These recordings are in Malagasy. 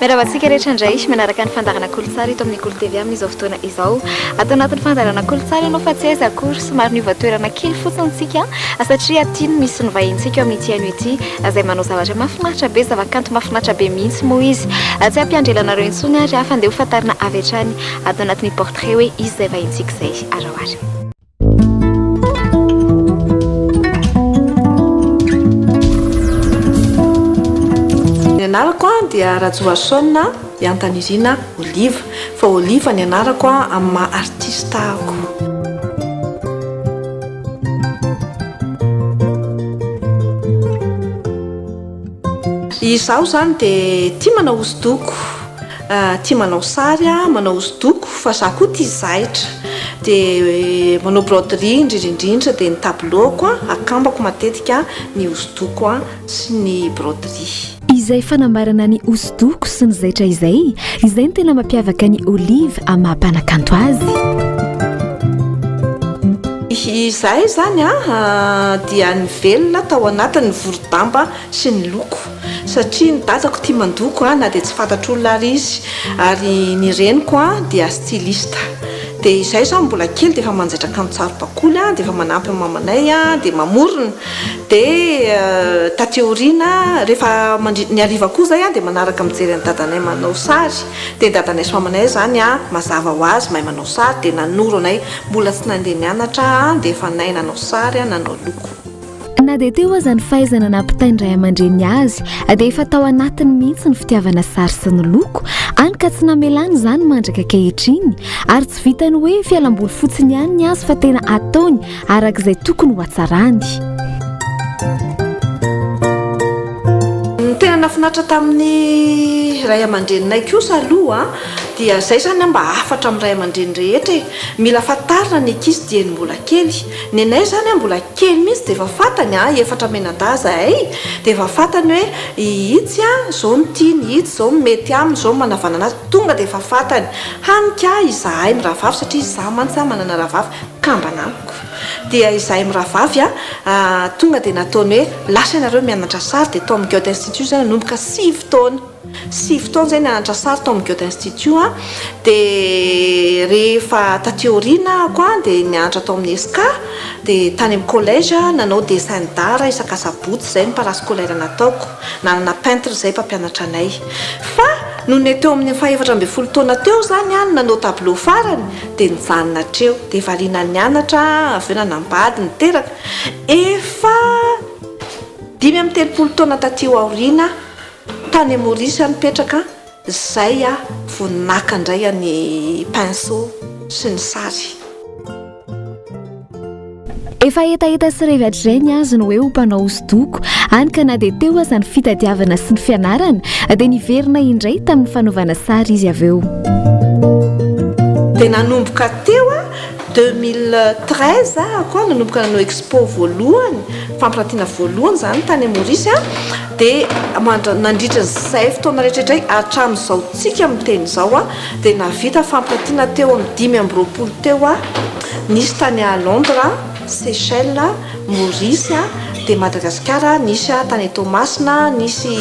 Miarahaba antsika rehetra indray manaraka ny fandaharana Kolotsary eto amin'ny Kolo TV amin'izao fotoana izao. Ato anatin'ny fandaharana Kolotsary ianao fa tsy aiza akory somary niova toerana kely fotsiny isika satria aty no misy ny vahinintsika ao amin'ity haino ity izay manao zavatra mahafinaritra be, zavakanto mahafinaritra be mihitsy moa izy. Tsy hampianjera anareo intsony ary fa andeha hofantarina avy hatrany ato anatin'ny portrait hoe iza izay vahinintsika izay. Araho ary. Ny anarako a dia Rajohason a, i Antanirina Oliva, fa Oliva ny anarako a amin'ny maha artista ahako. Izaho izany dia tia manao hosodoko. Tia manao sary, manao hosodoko fa za koa tia zahitra de manao broderie indrindra indrindra de ny tableau-ko akambako matetika ny hosodoko sy ny broderie. Izay fanambarana ny hosodoko sy ny zaitra izay, izay no tena mampiavaka an'i Olive amin'ny maha mpanakanto azy. Izahay izany dia nivelona tao anatin'ny vorodamba sy ny loko. satria ny dadako tia mandoko a, na dia tsy fantatr'olona ary izy, ary ny reniko a dia styliste, dia izahay izany mbola kely dia efa manjaitra kanjo saribakoly a, dia efa manampy an'i mamanay a, dia mamorona, dia taty aoriana rehefa mandri, ny hariva koa izay a dia manaraka mijery an'i dadanay manao sary, dia ny dadanay sy mamanay izany a mazava ho azy mahay manao sary, dia nanoro anay, mbola tsy nandeha nianatra a, dia efa nahay nanao sary a, nanao loko. Na dia teo aza ny fahaizana nampitain'ny ray aman-dreny azy dia efa tao anatiny mihitsy ny fitiavana sary sy ny loko, hany ka tsy namelany izany mandraka ankehitriny ary tsy vitany hoe fialamboly fotsiny ihany ny azy fa tena ataony araka izay tokony ho hatsarany. Ny tena nahafinaritra tamin'ny ray aman-dreninay kosa aloha dia izay izany mba hafatra amin'ny ray aman-dreny rehetra e! Mila fantarina ny ankizy dieny mbola kely Nenay zany a mbola kely mihitsy dia efa fantany a, efatra menadahy zahay dia efa fantany hoe ihitsy a zao no tiany, ihitsy zao no mety aminy, zao no manavana anazy, tonga dia efa fantany. Hany ka izahay mirahavavy satria izaho mantsy a manana rahavavy kambana amiko. Dia izahay mirahavavy a tonga dia nataony hoe lasa ianareo mianatra sary dia tao amin'ny Goethe Institut izy a nanomboka sivy taona. Sivy taona izay nianatra sary tao amin'ny Goethe Institut aho, dia rehefa taty aoriana ahako dia nianatra tao amin'ny ESK, dia tany amin'ny collège nanao dessin d'art isan-kasabotsy, izay no parascolaire nataoko, nanana peintre izay mpampianatra anay. Fa nony teo amin'ny fahefatra ambin'ny folo taona teo izany aho no nanao tableau farany dia nijanona hatreo, dia variana nianatra aho, avy eo nanambady, niteraka, efa dimy amby telopolo taona taty aoriana aho. Tany Maurice aho nipetraka, zay aho vo naka ndray any pinceau sy ny sary. Efa hetaheta sy revy hatrizay ny azy ny hoe ho mpanao hosodoko, hany ka na dia teo aza ny fitadiavana sy ny fianarana dia niverina indray tamin'ny fanaovana sary izy avy eo. Dia nanomboka teo aho, deux mille treize aho koa nanomboka nanao expo voalohany, fampirantiana voalohany izany tany Maurice. Dia mandra, nandritra izay fotoana rehetra izay hatramin'izao tsika miteny izao dia nahavita fampiratiana teo amin'ny dimy amby roapolo teo nisy tany à Londres, Seychelles, Maurice, dia Madagasikara nisy tany Toamasina, nisy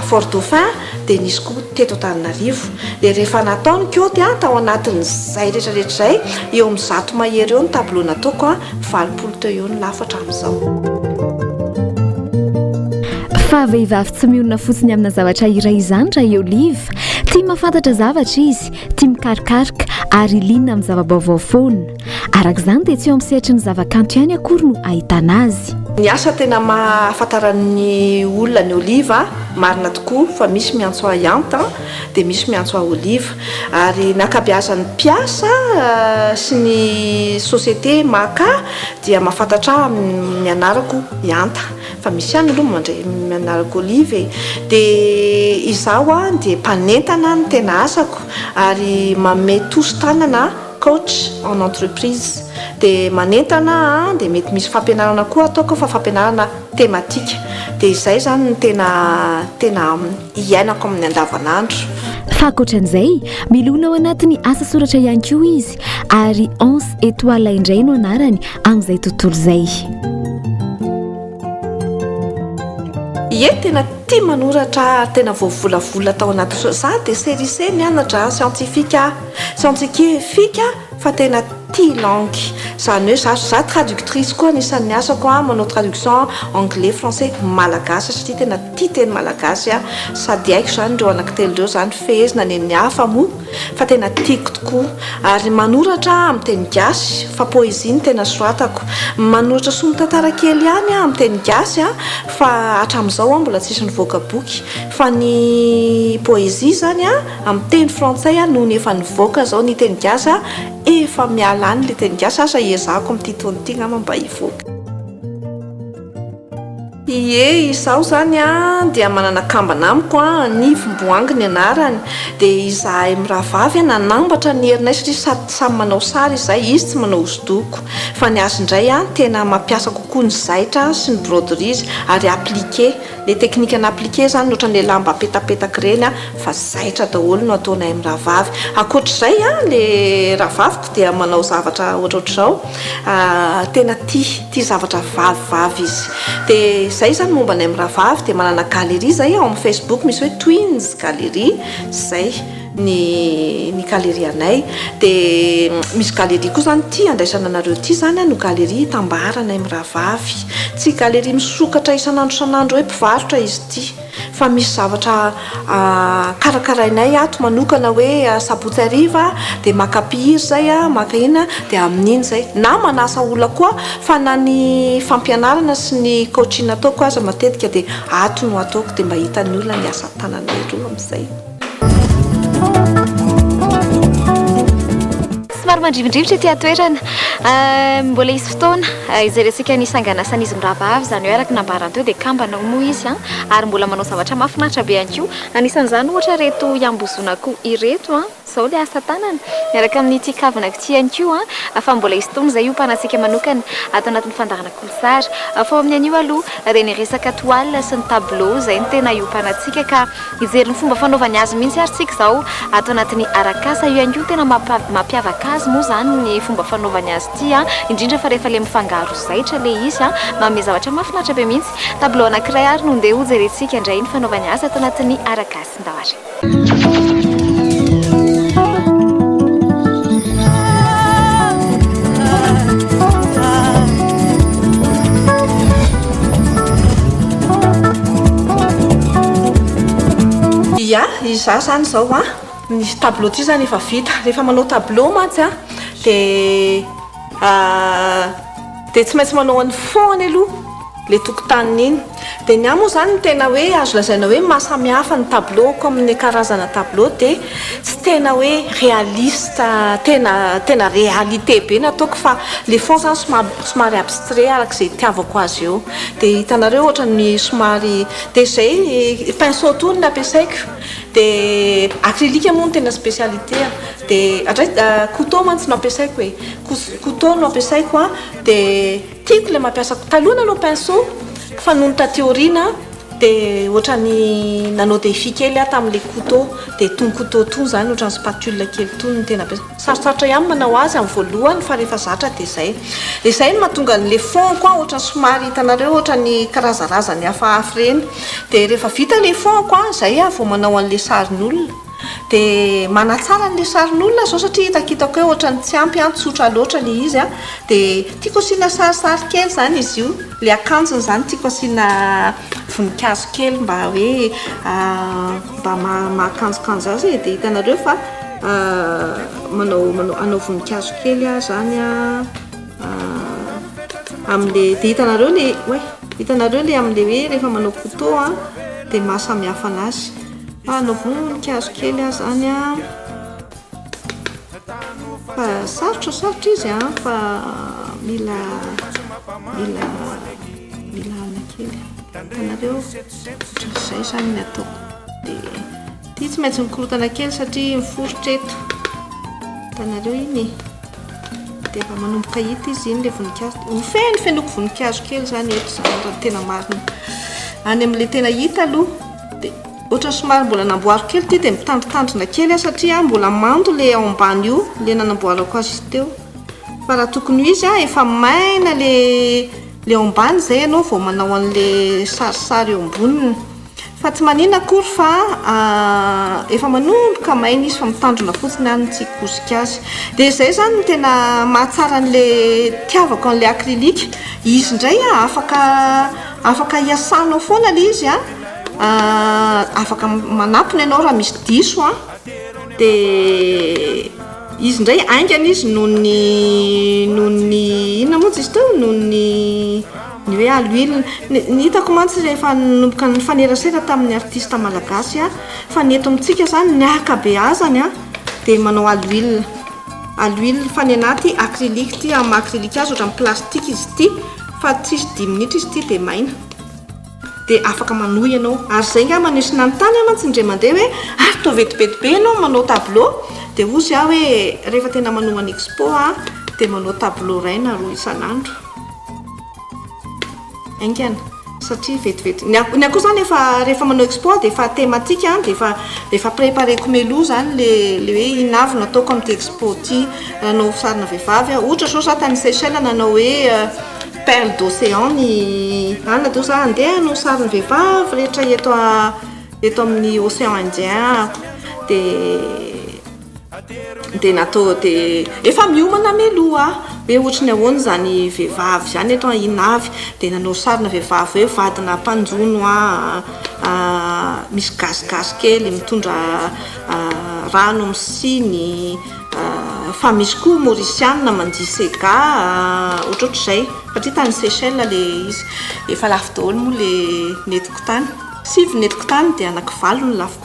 Fort Dauphin, dia nisy koa teto Antananarivo, dia rehefa natao ny kaonty an, tao anatin'izay retraretra izay, eo amin'ny zato mahery eo ny tableau nataoko an, valopolo teo eo ny lafo hatramin'izao. Fa vehivavy tsy mionona fotsiny amina zavatra iray izany raha i Olive. Tia mahafantatra zavatra izy, tia mikarokaroka ary liana amin'ny zava-baovao foana. Araka izany dia tsy eo amin'ny sehatry ny zavakanto ihany akory no ahitana azy. Ny asa tena maha ahafantaran'ny olona an'i Oliva, marina tokoa fa misy miantso ahy Anta dia misy miantso ahy Oliva. Ary ny ankabeazan'ny mpiasa sy ny société Maka dia mahafantatra ahy amin'ny anarako i Anta. Fa misy ihany aloha mandray amin'ny anarako Oliva e. Dia izaho dia mpanentana no tena asako ary manome tosi-tanana. coach en entreprise dia manentana an dia mety misy fampianarana koa ataoko fa fampianarana tematika dia izay zany ny tena tena hiainako amin'ny andavanandro. Fa ankoatran'izay, milona ao anatin'ny asa soratra ihany koa izy ary Anse Etoile indray no anarany amin'izay tontolo izay. Ie tena tia manoratra ary tena voavolavola tao anaty so- za dia serise mianatra scientifique a Sentsike fika fa tena tia langue zany hoe za za traductrice koa anisan'ny asako a manao traduction anglais français malagasy satria tena tia teny malagasy a sady haiko zany ireo anaky telo ireo zany fehezina any amin'ny hafa moa fa tena tiako tokoa ary manoratra amin'ny teny gasy fa poésie no tena soratako manoratra sombin-tantara kely ihany a amin'ny teny gasy a fa hatramin'izao aho mbola tsisy nivoaka boky fa ny poésie zany a Amin'ny teny frantsay aho nony efa nivoaka zao ny teny gasy aho efa miala any le teny gasy asa iezahako amin'ity taona ity ngamba mba hivoaka. Ie izaho izany an dia manana kambana amiko an, Nivo Mboangy ny anarany, dia izahay mirahavavy an nanambatra ny herinay satria sady samy manao sary izahay, izy tsy manao hosodoko, fa ny azy indray an tena mampiasa kokoa ny zaitra sy ny broderies ary appliqué, Le teknika na appliquer zany otrany le lamba apetapetaka ireny a fa zaitra daholo no ataonay amin'ny rahavavy. Ankoatr'izay a le rahavaviko dia manao zavatra ohatrohatr'izao tena tia tia zavatra vavivavy izy de zay zany momba anay amin'ny rahavavy de manana galerie zay ao amin'ny facebook misy hoe twins galerie zay. ny ny galerie anay dia misy galerie koa izany ity andraisana anareo ity izany no galerie itambaranay mirahavavy tsy galerie misokatra isan'andro isan'andro hoe mpivarotra izy ity fa misy zavatra karakarainay ato manokana hoe sabotsy hariva dia maka mpihira izay aho maka inona dia amin'iny izay na manasa olona koa fa na ny fampianarana sy ny coaching ataoko aza matetika dia ato no ataoko dia mba hitan'ny olona ny asa tananay roa amin'izay Somary mandrivondrivotra ity atoerana. Ah, mbola hisy fotoana ah, izay resaka ny sanganasan'izy mirabavy izany hoe araka nambarany teo dia kambana ho moa izy an ah. ary mbola manao zavatra mahafinaritra be ihany koa anisan'izany ohatra ireto iambozona akoho ireto an izao ilay asa tanana miaraka amin'ity kavina ity ihany koa an fa mbola hisy fotoana izay hiompanatsika manokana ato anatin'ny fandaharana Sary, Fao amin'ny anio aloha, dia ny resaka toile sy ny tableau izay no tena iompana antsika ka hijery ny fomba fanaovany azy mihitsy ary tsika izao ato anatin'ny Arakasa. Io ihany koa no tena mampiavaka azy moa izany ny fomba fanaovany azy ity, indrindra fa rehefa ilay mifangaro zaitra ilay izy, manome zavatra mahafinaritra be mihitsy. Tableau anankiray ary no ndeha hojerentsika indray ny fanaovany azy ato anatin'ny Arakasin-dahary. Ya, izaho izany izao an, ny tableau ity izany efa vita. Rehefa manao tableau mantsy an dia. Ahh dia tsy maintsy manao an'i fond any aloha ilay tokotaniny iny dia ny ahy moa izany ny tena hoe azo lazaina hoe maha samy hafa ny tableau-ko amin'ny karazana tableau dia tsy tena hoe réaliste tena tena réalité be ny ataoko fa ilay fond izany somary somary abstrait araka izay itiavako azy eo dia hitanareo ohatran'ny somary dia izay pinceau toa no nampiasaiko dia acrylique moa no tena spécialité-ko. Dia hatray couteau mantsy no ampiasaiko e. Couteau no ampiasaiko an, dia tiako ilay mampiasa, taloha nanao pinceau fa nony taty aoriana dia ohatran'ny nanao défi kely aho tamin'ilay couteau dia itony couteau itony izany ohatran'ny spatule kely itony no tena ampiasaiko. Sarotsarotra ihany manao azy amin'ny voalohany fa rehefa zatra dia izay. Dia izay no mahatonga an'ilay fond-ko an ohatran'ny somary hitanareo ohatran'ny karazarazany hafahafa ireny. Dia rehefa vita ilay fond-ko an, izay aho vao manao an'ilay sarin'olona. Dia manatsara an'ilay sarin'olona izao satria hitakitako hoe ohatran'ny tsy ampy an, tsotra loatra ilay izy an. Dia tiako asiana sarisary kely izany izy io, ilay akanjony izany tiako asiana voninkazo kely mba hoe mba mahakanjokanjo azy e. Dia hitanareo fa manao hanao voninkazo kely aho izany amin'ilay, dia hitanareo ilay, oay, hitanareo ilay amin'ilay hoe rehefa manao couteau an dia maha samihafa an'azy. Ah na voninkazo kely aza any an, fa sarotra sarotra izy an, fa mila mila mila aina kely, hitanareo ohatran'ny izay izany ny ataoko, dia ity tsy maintsy mikorotana kely satria miforitra eto, hitanareo iny e, dia efa manomboka hita izy iny ilay voninkazo, ho feno fenoiko voninkazo kely izany eto izany raha ny tena marina, any amin'ilay tena hita aloha. Dia ohatran'ny somary mbola namboariko kely ity dia mitandrintandrina kely aho satria mbola mando ilay ao ambany io ilay nanamboarako azy teo fa raha tokony ho izy aho efa maina ilay ilay ao ambany izay ianao vao manao an'ilay sarisary eo amboniny fa tsy manina akory fa efa manomboka maina izy fa mitandrina fotsiny aho no tsy hikosika azy dia izay izany no tena mahatsara an'ilay tiavako an'ilay acrylique izy indray afaka Afaka iasanao foana le izy a, afaka manatona ianao raha misy diso a, de izy ndray aingana izy noho ny noho ny inona montsy izy teo noho ny ny hoe aloilona, ny ny hitako mantsy rehefa nanomboka nifanerasera tamin'ny artista malagasy a, fa ny eto amintsika zany ny akabeazany a de manao aloilona, aloilona fa ny anah ty acrylique ty, amin'ny maha acrylique azy ohatran'ny plastique izy ty. Fa tsisy dimy minitra izy ity dia maina. Dia afaka manohy ianao. Ary izay nga maneho sy nanontany ahy mantsy indray mandeha hoe ary toa vetivety be ianao manao tableau? Dia hozy aho hoe rehefa tena manohy an expo aho dia manao tableau iray na roa isan'andro. Haingana. satria vetivety ny akoho ny akoho zany efa rehefa manao export dia efa thématique an dia efa dia efa prépareko meloha zany le le hoe inona avy no ataoko amin'ity expo ity raha hanao sarina vehivavy aho ohatra zao za tany Seychelles nanao hoe perle d'océan ny anona dia hoy za andeha hanao sarina vehivavy rehetra eto eto amin'ny océan indien aho dia Dia natao dia efa miomana mialoha ah! Hoe ohatry ny ahoana izany vehivavy izany eto an, i Navy dia nanao sarina vehivavy hoe vadina mpanjono ah, misy gasigasy kely mitondra rano amin'ny siny, fa misy koa Mauriciana mandia sega ah, ohatrohatr'izay. Satria tany Seychelles ilay izy. Efa lafo daholo moa ilay netiko tany. Sivy ny netiko tany dia anaky valo ny lafo koa.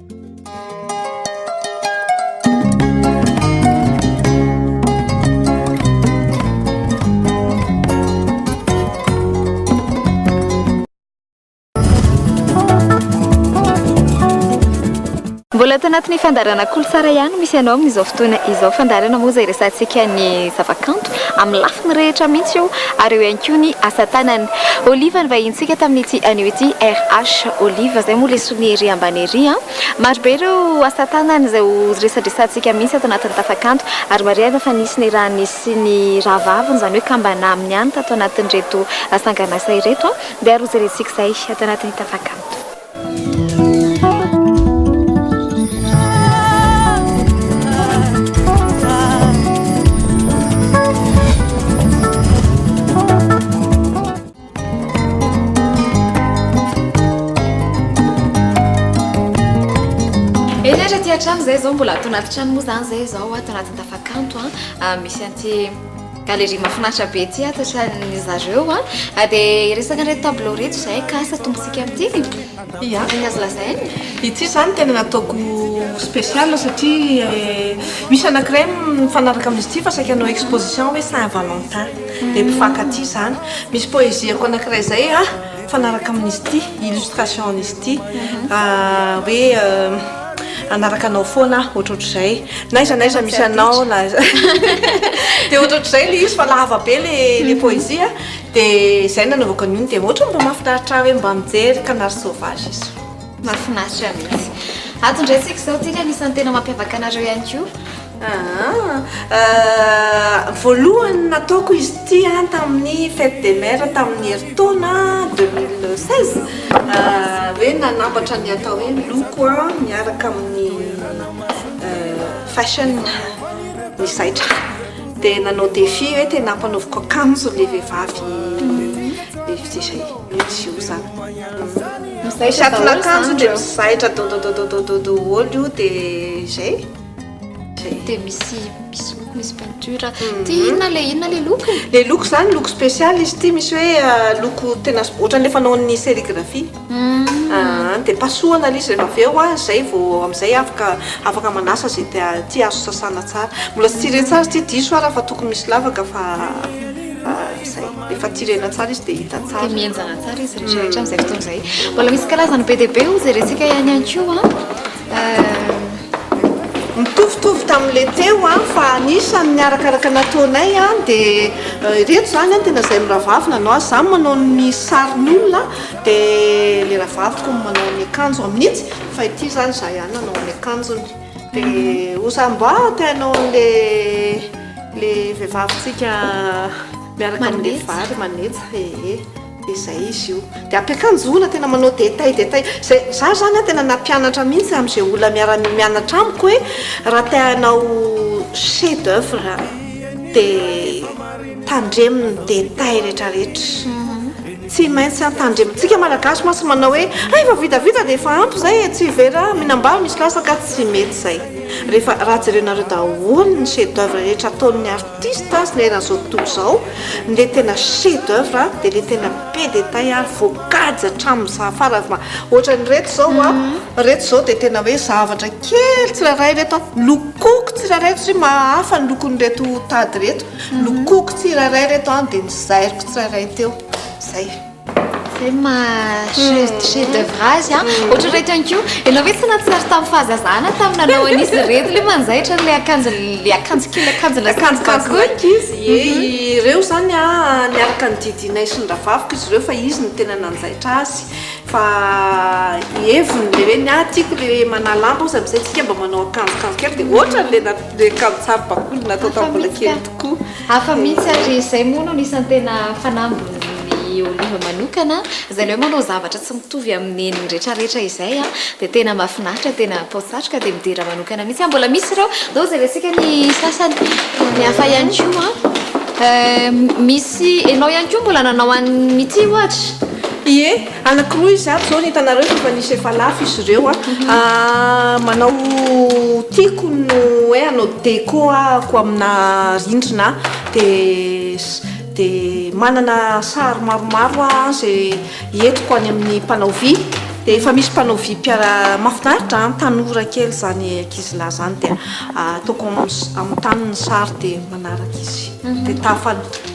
Mbola ato anatin'ny fandarana kolosara ihany misy anao amin'izao fotoana izao fandarana moa izay resantsika ny zavakanto amin'ny lafiny rehetra mihitsy io ary eo ihany koa ny asa tanana. Oliva ny vahintsika tamin'ity anio ity RH Oliva izay moa Ny ery ambany ery an! Maro be ireo asa tanana izay ho resadresantsika mihitsy ato anatin'ny Tafakanto ary marihana fa nisy ny rany sy ny rà vaviny, izany hoe kambana aminy ihany tato anatin'ireto sanganasa ireto an! Dia ary ho jerentsika izay ato anatin'ny Tafakanto. Eny ary aty an-trano izay izao mbola ato anaty trano moa izany izay izao ato anatin'ny tafakanto a ah, misy an'ity galerie mahafinaritra be ity ato an-tranon'ny zareo a ah. ah, dia resaka ireto tableau ireto izay ka satontsika amin'ity Ia, ny azo lazaina, ity izany tena nataoko spécial satria misy anankiray mifanaraka amin'izy ity fa saika hanao exposition hoe Saint Valentin dia mpifankatia izany. Misy poésie-ko anankiray izay mifanaraka amin'izy ity, illustration-n'izy ity hoe hanaraka anao foana aho, ohatrohatr'izay. N'aiza n'aiza misy anao na dia ohatrohatr'izay ilay izy fa lava be ilay poésie. Dia izay nanaovako an'io dia ohatran'ny mba mahafinaritra ahy hoe mba mijery canard sauvage izy. Mahafinaritra mihitsy. Ato indray tsika izao tsika anisan'ny tena mampiavaka anareo ihany koa. Ah, euh, voalohany nataoko izy ity an tamin'ny fête des mères tamin'ny herintaona 2016 euh, hoe nanambatra ny atao hoe loko an miaraka amin'ny euh, fashion ny zaitra. Dia nanao défi hoe tena ampanaoviko akanjo ilay vehivavy izay jour izany. Izay satin'akanjo dia mizaitra dododododododo olo io dia izay. Dia misy misy loko misy peinture. Ty inona ilay inona ilay loko? Ilay loko izany loko spécial izy ity misy hoe loko tena ohatran'ilay fanaon'ny sérigraphie. Aahh de pasohana lzy rehefa avy eo a, zay vao amzay afaka afaka manasa ze tia azo sasana tsara, mbola tsy tirer tsara ity diso ara fa tokony misy lavaka fa zay rehefa tirena tsara izy de hita tsara, de mihenjana tsara izy rehetra rehetra amzay fotoana zay, mbola misy karazany be dia be hozy resika ihany ihany koa a. Mitovitovy tamin'ilay teo fa anisan'ny arakaraka nataonay dia ireto izany no tena izay mirahavavy nanao azy. Izaho manao ny sarin'olona dia ilay rahavaviko no manao ny akanjony mihitsy fa ity izany izaho ihany no nanao ny akanjony. Dia hoy izaho mba te hanao an'ilay vehivavin-tsika miaraka amin'ny vary manetsa ee. Dia zay izy io. Dia ampiakanjo olona tena manao détail détail. Zay, za zany an tena nampianatra mihitsy amin'izay olona miara-mianatra amiko hoe raha te hanao chef d'oeuvre dia tandremo ny détail rehetra rehetra. Tsy maintsy an tandremo. Tsika malagasy mantsy manao hoe hay efa vita vita dia efa ampy zay e, tsy very an, mihinam-bary misy latsaka, tsy mety zay. Rehefa, raha jerenareo daholo ny chef d'oeuvre rehetra ataon'ny artiste. Tys tys ny eran'izao tontolo izao, ny le tena chef d'oeuvre dia le tena be détail ary voakajy hatramin'ny za farany fa ohatran'ireto izao a, ireto izao dia tena hoe zavatra kely tsirairay ireto a, lokoko tsirairay satria mahahafa ny lokon'ireto tady ireto, lokoko tsirairay ireto a dia nozairiko tsirairay teo, izay. Izay ny maha chef d'oeuvre azy an! Ohatr'ireto ihany koa, ianao ve tsy nahatsiaro tamin'ny fahazazana tamin'ny nanao an'izy ireto ilay manjaitra an'ilay akanjon'ilay akanjo kely akanjona sy ny bakoly? Ireo izany an, niaraka nodidianay sy ny rahavaviko izy ireo fa izy no tena nanjaitra azy fa heviny ilay hoe ny ahy tiako ilay hoe manahy lamba hozy amin'izay isika mba manao akanjokanjo kely dia ohatran'ilay akanjo saro-bakoly natao tamin'ny mbola kely tokoa. Hafa mihitsy ary izay moa no anisan'ny tena fanambin'i Olive manokana izay le hoe manao zavatra tsy mitovy amin'ny nen'ny retraretra izay dia tena mahafinaritra, tena atao satroka dia midera manokana mihitsy aho. Mbola misy ireo, zao jerentsika ny sasany, ny hafa ihany koa an. Misy, ianao ihany koa mbola nanao an'ity ohatra? Ie, Anakiroa izy ato izao no hitanareo fa efa nisy efa lafo izy ireo a. Manao tiako no hoe hanao déco ahako amina rindrina dia dia manana sary maromaro aho izay entiko any amin'ny mpanao vy dia efa misy mpanao vy mpiara, mahafinaritra an, tanora kely izany ankizilahy izany dia ataoko amin'ny amin'ny tany ny sary dia manaraka izy dia tahafahana.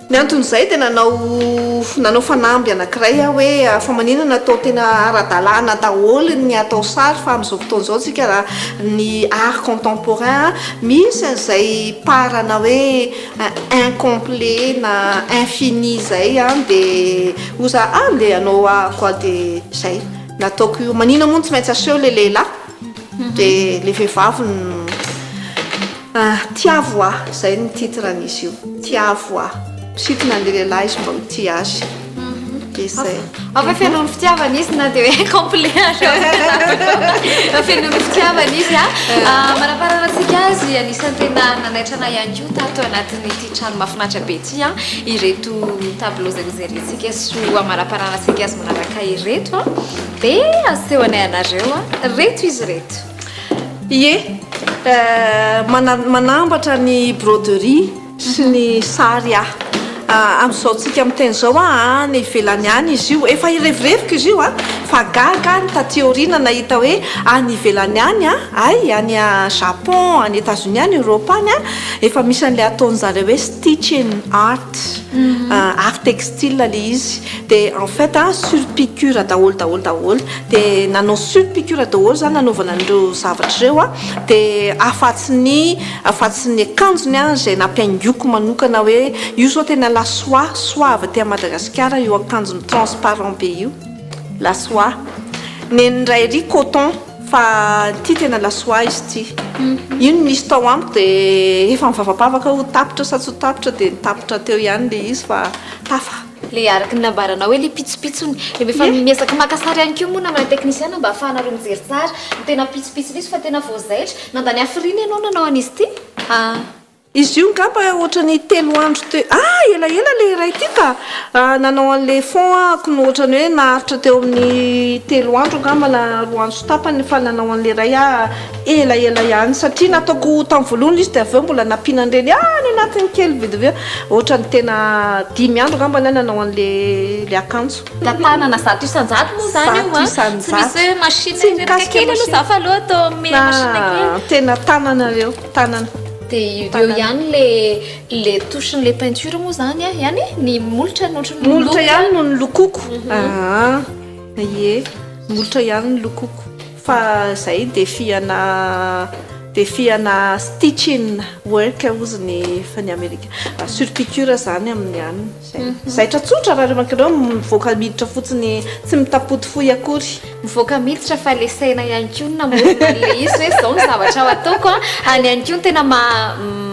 Ny anton'izay dia nanao nanao fanamby anankiray aho hoe fa manina no atao tena ara-dalàna daholo ny atao sary fa amin'izao fotoana izao isika raha ny art contemporain misy an'izay part-na hoe incomplet na infini izay dia hoy za ah ndeha hanao ahako aho dia izay nataoko io. Manina moa no tsy maintsy aseho ilay lehilahy? Dia ilay vehivavy no tiavo ahy, izay no titre an'izy io, tiavo ahy. Misintona an'ilay lehilahy izy mba ho tia azy. Dia izay. Ao ve feno ny fitiavana izy na dia hoe complet aza eo? Feno ny fitiavana izy a. Manampahalalana antsika azy, anisan'ny tena nanaitra anay ihany koa tato anatin'ity trano mahafinaritra be ity ireto tableaux izay nojerentsika sy ho amanampahanana antsika azy manaraka ireto. Be aseho anay anareo a! Reto izy reto. Ie, manambatra ny broderie sy ny sary aho. Amin'izao tsika miteny izao a, any ivelany any izy io. Efa irevireviko izy io a! Fa gaga aho ny taty aoriana nahita hoe any ivelany any a, hay any Japon, any Etazonia, any Eoropa any a, efa misy an'ilay ataon'izareo hoe stitching art, art textile ilay izy. De en fait a sur piqure daholo daholo daholo de nanao sur piqure daholo za nanaovana an'ireo zavatra ireo a de afatsy ny afatsy ny akanjony a izay nampihaingoiko manokana hoe io zao tena la soie soie avy aty Madagasikara io akanjony transparent be io la soie nen'ny ray ery coton fa ity tena la soie izy ity io ny misy tao amiko de efa mivavapavaka ho tapitra sa tsy ho tapitra de ny tapitra teo ihany le izy fa tafa Ilay araka ny nambaranao hoe ilay pitsopitsony. Dia efa miezaka maka sary ihany koa moa namana teknisiana mba hahafahanareo mijery tsara ny tena pitsopitsony izy fa tena vao zaitra. Nandany hafiriana ianao nanao an'izy ity a! Izy io ngamba ohatran'ny telo andro teo a! Ah! Elaela ilay iray ity ka! Nanao an'ilay fond ahako no ohatran'ny hoe naharitra teo amin'ny telo andro angamba na roa andro sy tapany fa nanao an'ilay iray aho. Ela ela ihany satria nataoko tam voalohany izy dia avy eo mbola nampianan'ireny any anatiny kely vdv ohatrany tena dimy andro angamba ny ahy nanao an'le le akanjo. Tantanana zato isan-jato moa izany io a! Zato isan-jato! Tsy misy hoe machine Tsy mikasika machine. kely aloha za fa aleo atao amin'ny machine kely. Na tena tanana ireo, tanana. Dia eo ihany le le touche-n'le peinture moa izany a! Ihany e! Ny molotra no ohatran'ny Molotra ihany no nolokoiko. Aa ie, molotra ihany nolokoiko. Fa zay defihana defihana stitching work ozy ny fa ny amerika sur piqure zany aminy any zay zaitra tsotra raha reo mankareo mivoaka miditra fotsiny tsy mitapoty fohy akory mivoaka miditra fa le saina ihany koa no namorona an'le izy hoe zao ny zavatra ho ataoko a any ihany koa no tena maha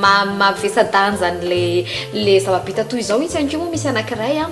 maha mavesa-danja an'le le zava-bita toy izao itsy ihany koa moa misy anakiray a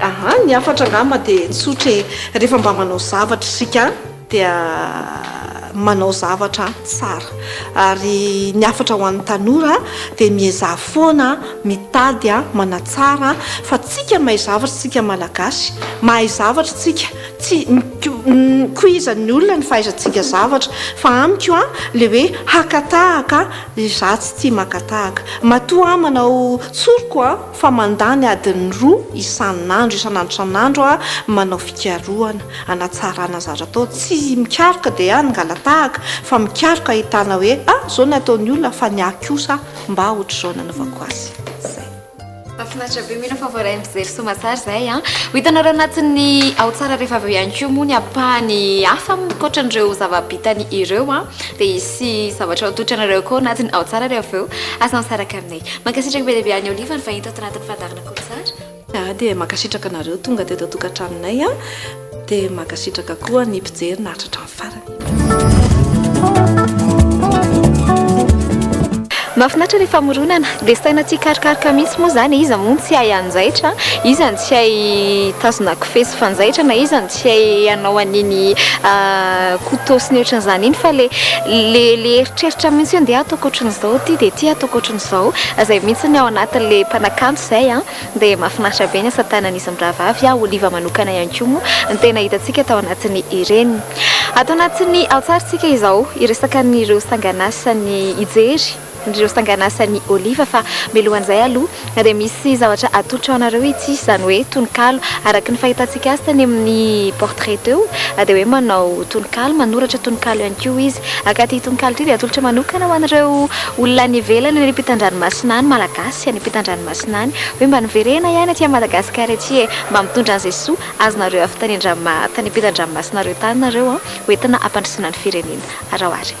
Aha, ny hafatra angamba dia tsotra e, rehefa mba manao zavatra isika dia manao zavatra tsara. Ary ny hafatra ho an'ny tanora dia miezaha foana mitady manatsara fa tsika mahay zavatra tsika malagasy, mahay zavatra tsika, tsy mikoizan'ny olona ny fahaizantsika zavatra fa amiko an, le hoe haka tahaka, za tsy tia maka tahaka, matoa aho manao tsoriko an. fa mandany adiny roa isan'andro isan'andro isan'andro aho manao fikarohana hanatsarana ny zavatra atao, tsy mikaroka dia hangalatahaka fa mikaroka hahitana hoe a zao ny ataon'ny olona fa ny ahy kosa mba ohatr'izao nanaovako azy. Mahafinaritra be, mila favoray mijery soamantsara izahay an! Ho hitanareo anatin'ny Ao Tsara rehefa avy eo ihany koa moa ny ampahany hafa ankoatran'ireo zava-bitany ireo an! Dia hisy zavatra ho totranareo koa anatin'ny Ao Tsara rehefa avy eo, aza misaraka aminay. Mankasitraka be dia be an'i Olive ary vahiny tato anatin'ny fandaharana koa tsara. Zah dia mankasitraka anareo tonga teto an-tokantranonay an! Dia mankasitraka koa ny mpijery naharitra hatramin'ny farany. Mahafinaritra ny famoronana. Dia saina tsikarokaroka mihitsy moa izany e, iza moa no tsy hay hanjaitra? Iza no tsy hay hitazona kofehy sy fanjaitra na iza no. tsy hay hanao an'iny couteau sy ny ohatran'izany iny fa le le le eritreritra mihitsy hoe ndeha ataoko ohatran'izao ity dia ity ataoko ohatran'izao izay mihitsy ny ao anatin'ilay mpanakanto izay an dia mahafinaritra be ny asa tanan'izy mirahavavy aho oliva manokana ihany koa moa ny tena hitantsika tao anatin'ny ireny ato anatin'ny ao tsaritsika izao hiresaka an'ireo sangan'asan'ny hijery Indreo sangan'asan'i Oliva fa mialohan'izay aloha dia misy zavatra atolotra ho anareo ity izany hoe tononkalo araka ny fahitantsika azy tany amin'ny portrait teo dia hoe manao tononkalo manoratra tononkalo ihany koa izy ka ity tononkalo ity dia atolotra manokana ho an'ireo olona any ivelany any ampitan-dranomasina any malagasy any ampitan-dranomasina any hoe mba niverena ihany aty Madagascar ety e mba mitondra an'izay soa azonareo avy tany an-dranomasina tany ampitan-dranomasina ireo tany nareo an hoentina hampandrosoana ny firenena araho ary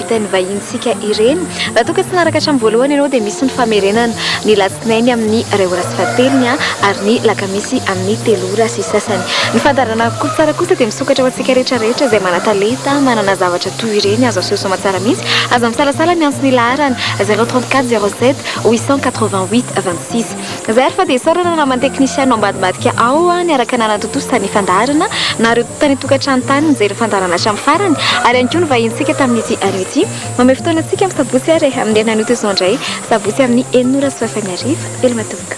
Teny vahinintsika ireny. Raha toa ka tsy naraka hatramin'ny voalohany ianao dia misy ny famerenana ny latsinainy amin'ny iray ora sy fahatelony ary ny lakamisy amin'ny telo ora sy sasany. Ny fandaharana Kolotsara kosa dia misokatra ho antsika rehetra rehetra izay manatalenta manana zavatra toy ireny azo aseho soa aman-tsara mihitsy. Aza misalasala miantso ny laharana 034 07 888 26. Zay ary fa dia isaorana namana teknisianina ao ambadibadika ao niaraka nanatontosa tany fandaharana na ireo tany an-tokantrano tany nijery ny fandaharana hatramin'ny farany ary ihany koa ny vahinintsika tamin'ity anio ity. Mamehy fotoana antsika amin'ny sabotsy ary amin'ny alina anio toy izao indray sabotsy amin'ny enina ora sy roa fahefany hariva. Veloma tompoko.